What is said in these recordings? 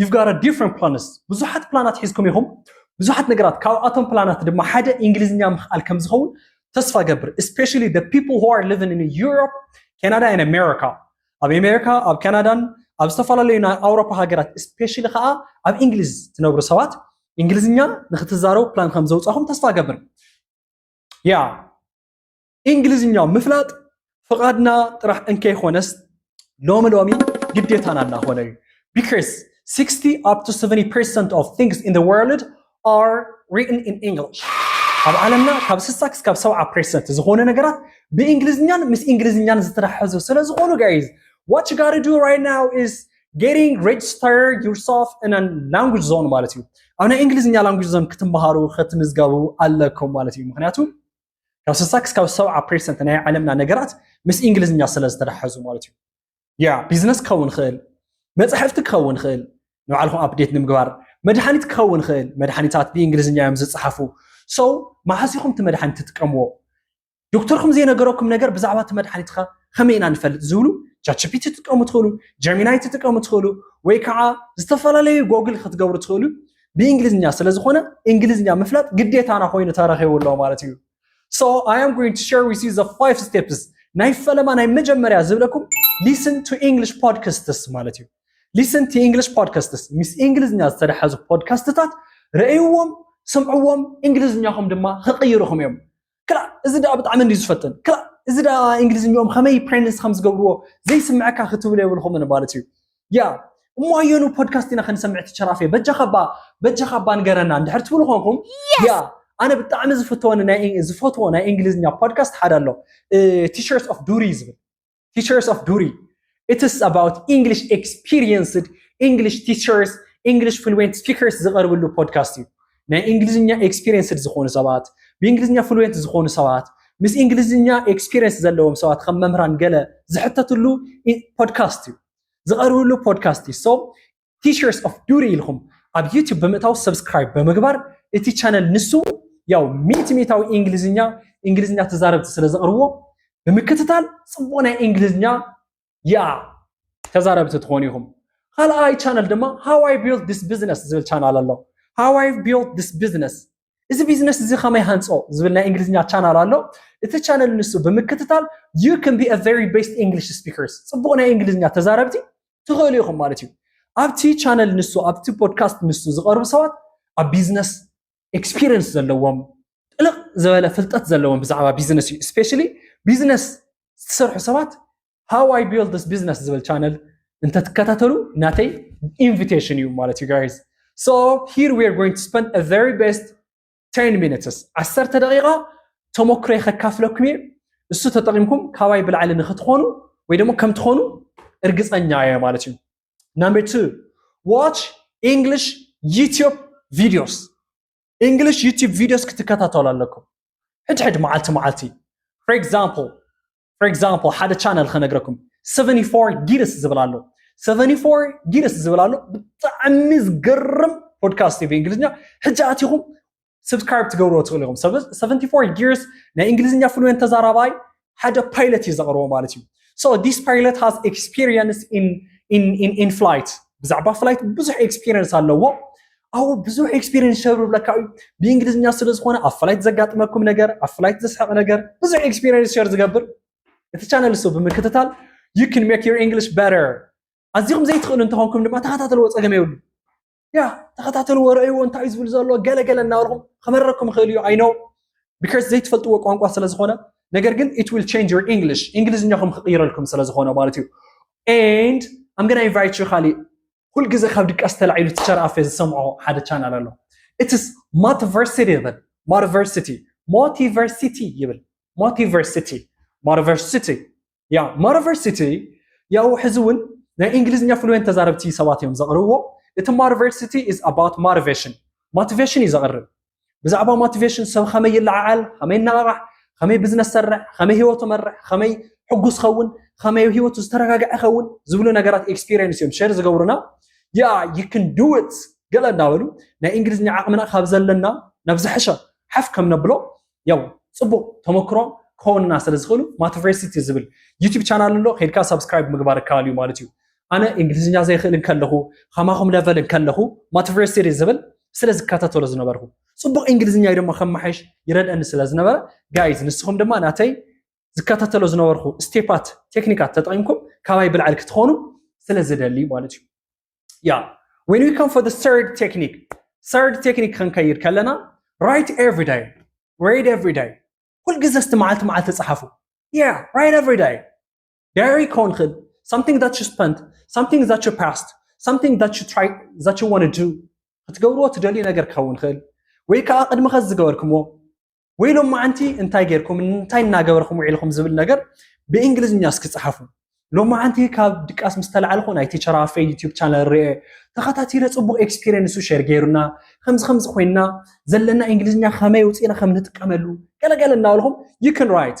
You've got a different plans ብዙሓት ፕላናት ሒዝኩም ኢኹም ብዙሓት ነገራት ካብኣቶም ፕላናት ድማ ሓደ እንግሊዝኛ ምኽኣል ከም ዝኸውን ተስፋ ገብር ስፔሻሊ the people who are living in Europe, Canada and America ኣብ ኣሜሪካ ኣብ ካናዳን ኣብ ዝተፈላለዩ ናይ ኣውሮፓ ሃገራት ስፔሻሊ ከዓ ኣብ እንግሊዝ ትነብሩ ሰባት እንግሊዝኛ ንክትዛረቡ ፕላን ከም ዘውፃኹም ተስፋ ገብር ያ እንግሊዝኛ ምፍላጥ ፍቓድና ጥራሕ እንከይኾነስ ሎሚ ሎሚ ግዴታና እናኾነ እዩ because 60 up to 70 percent of things in the world are written in English ኣብ ዓለምና ካብ ስሳ ክስካብ ሰብዓ ፐርሰንት ዝኾነ ነገራት ብእንግሊዝኛን ምስ እንግሊዝኛን ዝተተሓዙ ስለ ዝኾኑ ጋይዝ ዋት ዩ ጋሪ ዱ ራይት ናው ኢዝ ጌቲንግ ሬጅስተር ዩርሰልፍ ን ላንጉጅ ዞን ማለት እዩ ኣብ ናይ እንግሊዝኛ ላንጉጅ ዞን ክትምሃሩ ከትምዝገቡ ኣለኩም ማለት እዩ ምክንያቱ ካብ ስሳ ክስካብ ሰብዓ ፐርሰንት ናይ ዓለምና ነገራት ምስ እንግሊዝኛ ስለ ዝተተሓዙ ማለት እዩ ያ ቢዝነስ ክኸውን ይኽእል መፅሕፍቲ ክኸውን ይኽእል ንባዕልኹም ኣፕዴት ንምግባር መድሓኒት ክኸውን ይኽእል መድሓኒታት ብእንግሊዝኛ እዮም ዝፀሓፉ ሰው መዓስ ኢኹም እቲ መድሓኒት ትጥቀምዎ ዶክተርኩም ዘይነገረኩም ነገር ብዛዕባ እቲ መድሓኒትካ ከመይ ኢና ንፈልጥ ዝብሉ ቻችፒቲ ትጥቀሙ ትኽእሉ ጀሚናይ ትጥቀሙ ትኽእሉ ወይ ከዓ ዝተፈላለዩ ጎግል ክትገብሩ ትኽእሉ ብእንግሊዝኛ ስለ ዝኾነ እንግሊዝኛ ምፍላጥ ግዴታና ኮይኑ ተረኺቡ ኣሎ ማለት እዩ ሶ ኣይ ኣም ጎይንግ ቱ ሸር ዊዝ ዩ ዘ ፋይቭ ስቴፕስ ናይ ፈለማ ናይ መጀመርያ ዝብለኩም ሊስን ቱ ኢንግሊሽ ፖድካስትስ ማለት እዩ ሊስን ቱ ኢንግሊሽ ፖድካስትስ ምስ እንግሊዝኛ ዝተደሓዙ ፖድካስትታት ረእይዎም ስምዕዎም እንግሊዝኛኹም ድማ ክቕይሩኹም እዮም ክላእ እዚ ደኣ ብጣዕሚ እንድዩ ዝፈትን ክላእ እዚ ደኣ እንግሊዝኝኦም ከመይ ፕሬንስ ከም ዝገብርዎ ዘይስምዐካ ክትብሉ የብልኩምን ማለት እዩ ያ እሞ ኣየኑ ፖድካስት ኢና ክንሰምዕ ትቸራፌ በጃኻ ባ በጃኻ ባ ንገረና እንድሕር ትብሉ ኮንኩም ያ ኣነ ብጣዕሚ ዝፍተወኒ ናይ ዝፈትዎ ናይ እንግሊዝኛ ፖድካስት ሓደ ኣሎ ቲሸርት ኦፍ ዱሪ ዝብል ቲቸርስ ኦፍ ዱሪ ኢትስ ኣባውት ኢንግሊሽ ኤክስፒሪየንስድ ኢንግሊሽ ቲቸርስ ኢንግሊሽ ፍሉዌንት ስፒከርስ ዝቐርብሉ ፖድካስት እዩ ናይ እንግሊዝኛ ኤክስፒሪየንስድ ዝኾኑ ሰባት ብእንግሊዝኛ ፍሉዌንት ዝኾኑ ሰባት ምስ እንግሊዝኛ ኤክስፒሪየንስ ዘለዎም ሰባት ከም መምህራን ገለ ዝሕተትሉ ፖድካስት እዩ ዝቐርብሉ ፖድካስት እዩ ሶ ቲቸርስ ኦፍ ዱሪ ኢልኩም ኣብ ዩቲዩብ ብምእታው ሰብስክራይብ ብምግባር እቲ ቻነል ንሱ ያው ሚእቲ ሚእታዊ እንግሊዝኛ እንግሊዝኛ ተዛረብቲ ስለ ዘቕርቦ ብምክትታል ፅቡቕ ናይ እንግሊዝኛ ያ ተዛረብቲ ትኾኑ ኢኹም ካልኣይ ቻነል ድማ ሃዋይ ቢልድ ዲስ ቢዝነስ ዝብል ቻናል ኣሎ ሃዋይ ቢልድ ዲስ ቢዝነስ እዚ ቢዝነስ እዚ ከመይ ሃንፆ ዝብል ናይ እንግሊዝኛ ቻናል ኣሎ እቲ ቻነል ንሱ ብምክትታል ዩ ክን ቢ ቨሪ ቤስት እንግሊሽ ስፒከርስ ፅቡቅ ናይ እንግሊዝኛ ተዛረብቲ ትኽእሉ ኢኹም ማለት እዩ ኣብቲ ቻነል ንሱ ኣብቲ ፖድካስት ንሱ ዝቐርቡ ሰባት ኣብ ቢዝነስ ኤክስፒሪየንስ ዘለዎም ጥልቕ ዝበለ ፍልጠት ዘለዎም ብዛዕባ ቢዝነስ እዩ ስፔሻሊ ቢዝነስ ዝሰርሑ ሰባት ሃው ኣይ ቢልድ ዲስ ቢዝነስ ዝብል ቻነል እንተትከታተሉ ናተይ ኢንቪቴሽን እዩ ማለት እዩ ጋይስ ሶ ሂር ዊ ኣር ጎይንግ ቱ ስፐንድ አ ቨሪ ቤስት 10 ሚኒትስ ዓሰርተ ደቂቃ ተሞክሮይ ከካፍለኩም እየ እሱ ተጠቂምኩም ካባይ ብላዕሊ ንክትኾኑ ወይ ደግሞ ከም ትኾኑ እርግፀኛ እየ ማለት እዩ ናምበር ቱ ዋች ኢንግሊሽ ዩትዩብ ቪዲዮስ እንግሊሽ ዩትዩብ ቪዲዮስ ክትከታተሉ ኣለኩም ሕድሕድ መዓልቲ መዓልቲ ፎር ኤግዛምፕል ፎር ኤግዛምፕል ሓደ ቻነል ከነግረኩም 74 ጊርስ ዝብል ኣሎ 74 ጊርስ ዝብል ኣሎ ብጣዕሚ ዝገርም ፖድካስት እዩ ብእንግሊዝኛ ሕጂ ኣቲኹም ስብስክራይብ ትገብርዎ ትኽእሉ ኢኹም 74 ጊርስ ናይ እንግሊዝኛ ፍሉዌንት ተዛራባይ ሓደ ፓይለት እዩ ዘቕርቦ ማለት እዩ ሶ ዲስ ፓይለት ሃዝ ኤክስፒሪየንስ ኢን ፍላይት ብዛዕባ ፍላይት ብዙሕ ኤክስፒሪየንስ ኣለዎ ኣው ብዙሕ ኤክስፒሪንስ ሸር ብለካ እዩ ብእንግሊዝኛ ስለ ዝኾነ ኣብ ፍላይት ዘጋጥመኩም ነገር ኣብ ፍላይት ዘስሕቕ ነገር ብዙሕ ኤክስፒሪንስ ሸር ዝገብር እቲ ቻነል እሱ ብምክትታል ዩ ን ሜክ ዩር እንግሊሽ በተር ኣዚኹም ዘይትኽእሉ እንተኾንኩም ድማ ተኸታተልዎ ፀገም የብሉ ያ ተኸታተልዎ ረእይዎ እንታይ እዩ ዝብል ዘሎ ገለገለ እናበልኹም ክመረኩም ይኽእል እዩ ኣይኖ ቢካስ ዘይትፈልጥዎ ቋንቋ ስለ ዝኾነ ነገር ግን ኢት ዊል ቸንጅ ዩር እንግሊሽ እንግሊዝኛኹም ክቕይረልኩም ስለ ዝኾነ ማለት እዩ ኤንድ ኣም ገና ኢንቫይት ዩ ካሊእ ኩል ግዜ ካብ ድቃስ ተላዒሉ ቲቸር ኣፌ ዝሰምዖ ሓደ ቻናል ኣሎ ኢትስ ማቲቨርሲቲ ይብል ማቲቨርሲቲ ሞቲቨርሲቲ ይብል ሞቲቨርሲቲ ሞቲቨርሲቲ ያ ሞቲቨርሲቲ ያው ሕዚ እውን ናይ እንግሊዝኛ ፍሉዌንት ተዛረብቲ ሰባት እዮም ዘቕርብዎ እቲ ሞቲቨርሲቲ ኢዝ ኣባውት ሞቲቬሽን ሞቲቬሽን እዩ ዘቕርብ ብዛዕባ ሞቲቬሽን ሰብ ከመይ ይለዓዓል ከመይ ይነቓቓሕ ከመይ ብዝነስ ሰርሕ ከመይ ሂወቱ መርሕ ከመይ ሕጉስ ኸውን ከመይ ሂወቱ ዝተረጋግዐ ኸውን ዝብሉ ነገራት ኤክስፒሪየንስ እዮም ሸር ዝገብሩና ያ ይክን ድውት ገለ እንዳበሉ ናይ እንግሊዝኛ ዓቕምና ካብ ዘለና ናብ ዝሐሸ ሓፍ ከም ነብሎ ያው ፅቡቅ ተመክሮ ክኸውንና ስለ ዝኽእሉ ማቲቨርሲቲ ዝብል ዩቲብ ቻናል ኣሎ ከድካ ሳብስክራይብ ምግባር ይከኣል እዩ ማለት እዩ ኣነ እንግሊዝኛ ዘይክእል እንከለኹ ከማኹም ለቨል እንከለኹ ማትቨርሲሪ ዝብል ስለ ዝከታተሎ ዝነበርኩ ፅቡቕ እንግሊዝኛ ድማ ከመሓይሽ ይረድአኒ ስለ ዝነበረ ጋይዝ ንስኹም ድማ ናተይ ዝከታተሎ ዝነበርኩ ስቴፓት ቴክኒካት ተጠቂምኩም ካባይ ብልዓል ክትኾኑ ስለ ዝደሊ ማለት እዩ ያ when we come for the third technique third technique ክንከይድ ከለና write every day write every day ኩልግዜ እስቲ መዓልቲ መዓልቲ ፀሓፉ ያ write every day Gary Conrad, something that you spent, something that you passed, something that you try that you want to do ክትገብርዎ ትደልዩ ነገር ክኸውን ይኽእል ወይ ከዓ ቅድሚ ኸዚ ዝገበርኩምዎ ወይ ሎማዓንቲ እንታይ ጌርኩም እንታይ እናገበርኩም ውዒልኩም ዝብል ነገር ብእንግሊዝኛ እስኪ ፀሓፉ ሎማዓንቲ ካብ ድቃስ ምስ ተላዓልኩ ናይ ቲቸር ኣፌ ዩቲብ ቻነል ርአ ተኸታቲለ ፅቡቅ ኤክስፒሪየንሱ ሸር ገይሩና ከምዚ ከምዚ ኮይንና ዘለና እንግሊዝኛ ከመይ ውፅኢና ከም ንጥቀመሉ ገለገለ እናበልኩም ዩ ክን ራይት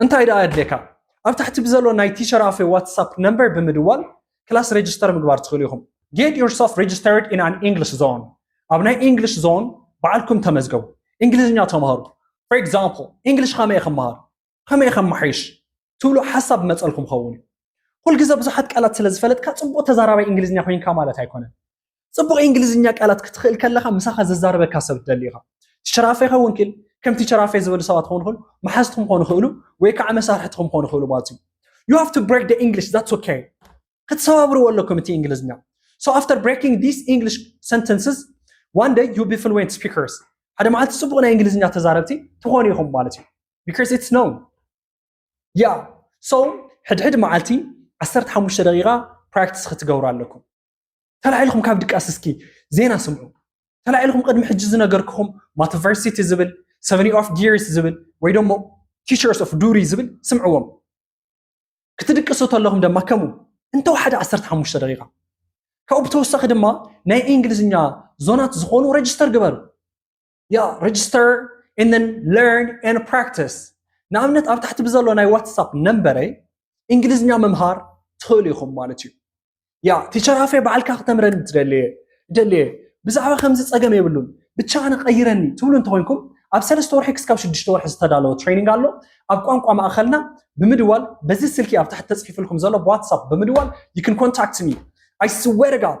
እንታይ ደኣ የድልየካ? ኣብ ታሕቲ ብዘሎ ናይ ቲቸር ኣፌ ዋትሳፕ ነምበር ብምድዋል ክላስ ሬጅስተር ምግባር ትኽእሉ ኢኹም። Get yourself registered in an English zone ኣብ ናይ ኢንግሊሽ ዞን ባዕልኩም ተመዝገቡ። እንግሊዝኛ ተምሃሩ። For example፣ እንግሊሽ ከመይ ክመሃር? ከመይ ከመሓይሽ? ትብሉ ሓሳብ ዝመጸልኩም ክኸውን እዩ። ኩል ግዘ ብዙሓት ቃላት ስለ ዝፈለጥካ ጽቡቕ ተዛራባይ እንግሊዝኛ ኮይንካ ማለት ኣይኮነን። ፅቡቕ እንግሊዝኛ ቃላት ክትኽእል ከለኻ ምሳኻ ዘዛረበካ ሰብ ትደሊ ኢኻ ቲቸራፈ ይኸውን ክል ከም ቲቸራፈ ዝበሉ ሰባት ክኾኑ ይኽእሉ መሓዝቲ ክኾኑ ይኽእሉ ወይ ከዓ መሳርሕትኹም ክኾኑ ይኽእሉ ማለት እዩ ዩ ሃቭ ቱ ብሬክ ደ እንግሊሽ ዛትስ ኦኬ ክትሰባብርዎ ኣለኩም እቲ እንግሊዝኛ ሶ ኣፍተር ብሬኪንግ ዲስ እንግሊሽ ሰንተንስስ ዋን ደይ ዩ ቢ ፍሉዌንት ስፒከርስ ሓደ መዓልቲ ፅቡቕ ናይ እንግሊዝኛ ተዛረብቲ ትኾኑ ኢኹም ማለት እዩ ቢካዝ ኢትስ ኖ ያ ሶ ሕድሕድ መዓልቲ 15 ደቂቃ ፕራክቲስ ክትገብሩ ኣለኩም ተላዒልኩም ካብ ድቃስ እስኪ ዜና ስምዑ። ተላዒልኩም ቅድሚ ሕጂ ዝነገርክኹም ማተቨርሲቲ ዝብል ሰቨኒ ኦፍ ጊርስ ዝብል ወይ ደሞ ቲቸርስ ኦፍ ዱሪ ዝብል ስምዕዎም። ክትድቅሱ ተለኹም ደማ ከምኡ እንተወሓደ 15 ደቂቃ ካብኡ ብተወሳኺ ድማ ናይ እንግሊዝኛ ዞናት ዝኾኑ ረጅስተር ግበሩ። ያ ሬጅስተር ን ለርን ን ፕራክቲስ ንኣብነት ኣብ ታሕቲ ብዘሎ ናይ ዋትሳፕ ነንበረይ እንግሊዝኛ ምምሃር ትኽእሉ ኢኹም ማለት እዩ ያ ቲቸር ኣፌ በዓልካ ክተምረኒ ትደልየ ደልየ ብዛዕባ ከምዚ ፀገም የብሉን ብቻ ኣነ ቀይረኒ ትብሉ እንተኮይንኩም ኣብ ሰለስተ ወርሒ ክስካብ ሽዱሽተ ወርሒ ዝተዳለወ ትሬኒንግ ኣሎ ኣብ ቋንቋ ማእኸልና ብምድዋል በዚ ስልኪ ኣብ ታሕቲ ተፅሒፍልኩም ዘሎ ብዋትሳፕ ብምድዋል ይክን ኮንታክት ሚ ኣይ ስዌር ጋድ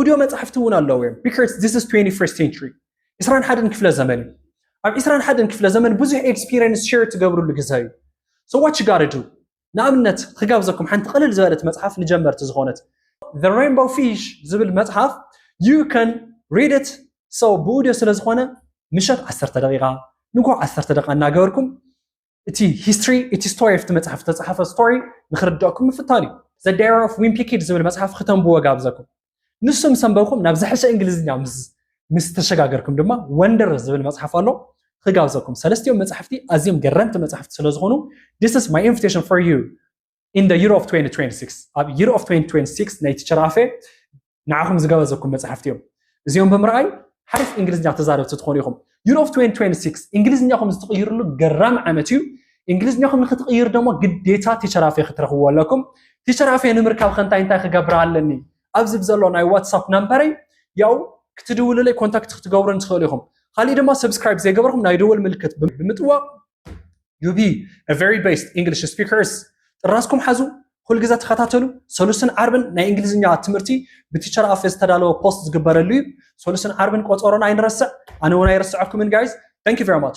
ኦድዮ መጻሕፍቲ እውን ኣለዉ እዮም ቢካዝ ዚስ ኢዝ ትዌንቲ ፈርስት ሴንቹሪ ዕስራን ሓደን ክፍለ ዘመን እዩ ኣብ ዕስራን ሓደን ክፍለ ዘመን ብዙሕ ኤክስፒሪየንስ ሸር ትገብርሉ ግዘ እዩ ሰዋች ጋርዱ ንኣብነት ክጋብዘኩም ሓንቲ ቅልል ዝበለት መፅሓፍ ንጀመርቲ ዝኾነት The Rainbow Fish ዝብል መፅሓፍ you can read it so ብኡድዮ ስለ ዝኾነ ምሸት ዓሰርተ ደቂቃ ንጉዕ ዓሰርተ ደቂቃ እናገበርኩም እቲ ሂስትሪ እቲ ስቶሪ ኣብቲ መጽሓፍ ዝተጻሓፈ ስቶሪ ንክርድኣኩም ምፍታን እዩ ዘ ዳይሪ ኦፍ ዊምፒ ኪድ ዝብል መጽሓፍ ክተንብዎ ጋብዘኩም ንሱ ምስ ኣንበብኩም ናብ ዝሐሸ እንግሊዝኛ ምስ ተሸጋገርኩም ድማ ወንደር ዝብል መጽሓፍ ኣሎ ክጋብዘኩም ሰለስቲኦም መጽሕፍቲ ኣዝዮም ገረምቲ መጽሕፍቲ ስለዝኾኑ ዲስ ስ ማይ ኢንቪቴሽን ፎር ዩ in the year of 2026 ኣብ year of 2026 ናይቲ ቸራፌ ንዓኹም ዝገበዘኩም መፅሓፍቲ እዮም እዚኦም ብምርኣይ ሓሪፍ እንግሊዝኛ ተዛረብቲ ትኾኑ ኢኹም year of 2026 እንግሊዝኛኹም ዝትቕይርሉ ገራሚ ዓመት እዩ እንግሊዝኛኹም ንክትቕይሩ ደሞ ግዴታ ቲቸራፌ ክትረኽብዎ ኣለኩም ቲቸራፌ ንምርካብ ከንታይ እንታይ ክገብር ኣለኒ ኣብዚ ብዘሎ ናይ ዋትሳፕ ናምበረይ ያው ክትድውሉለይ ኮንታክት ክትገብሩን ትኽእሉ ኢኹም ካሊእ ድማ ሰብስክራይብ ዘይገበርኩም ናይ ደወል ምልክት ብምጥዋቕ ዩቢ ቨሪ ቤስት ኢንግሊሽ ስፒከርስ ጥራዝኩም ሓዙ ኩል ግዘ ተኸታተሉ ሰሉስን ዓርብን ናይ እንግሊዝኛ ትምህርቲ ብቲቸር ኣፌ ዝተዳለወ ፖስት ዝግበረሉ እዩ ሰሉስን ዓርብን ቆፀሮና ኣይንረስዕ ኣነ እውን ኣይረስዐኩምን ጋይዝ ታንክ ዩ ቨሪ ማች